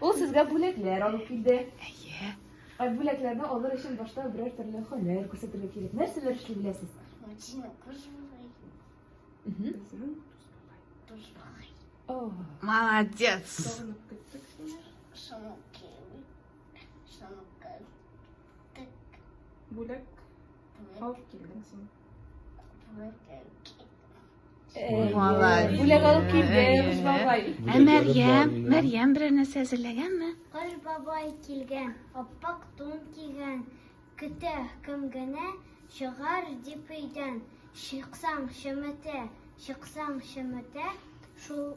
Ул сезгә бүләкләр алып килде. Әйе. Ә бүләкләрне алыр өчен башта берәр төрле һөнәр күрсәтергә кирәк. Нәрсәләр эшли беләсез? Машина пожалуй. Пожалуй. О, Молодец. Шамуки. Шамуки. Бүләк. Бүләк. Алып килдең син. Молодец. Бүләк алып килде Кыш бабай. Ә Мәрьям, Мәрьям берәр нәрсә әзерләгәнме? Кыш бабай килгән, аппак тун кигән, көтә кем генә чыгар дип өйдән. Чыксаң чеметә, чыксаң чеметә, шул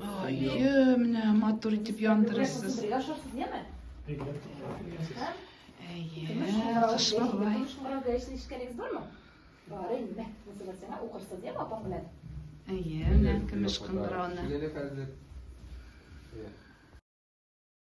Ае, менә матур итеп яндырасыз. Әйе, кыш бабай. Бары инде. Мусылсына укырсыз, дим апам белән. Әйе, менә көмеш кыңгырауны.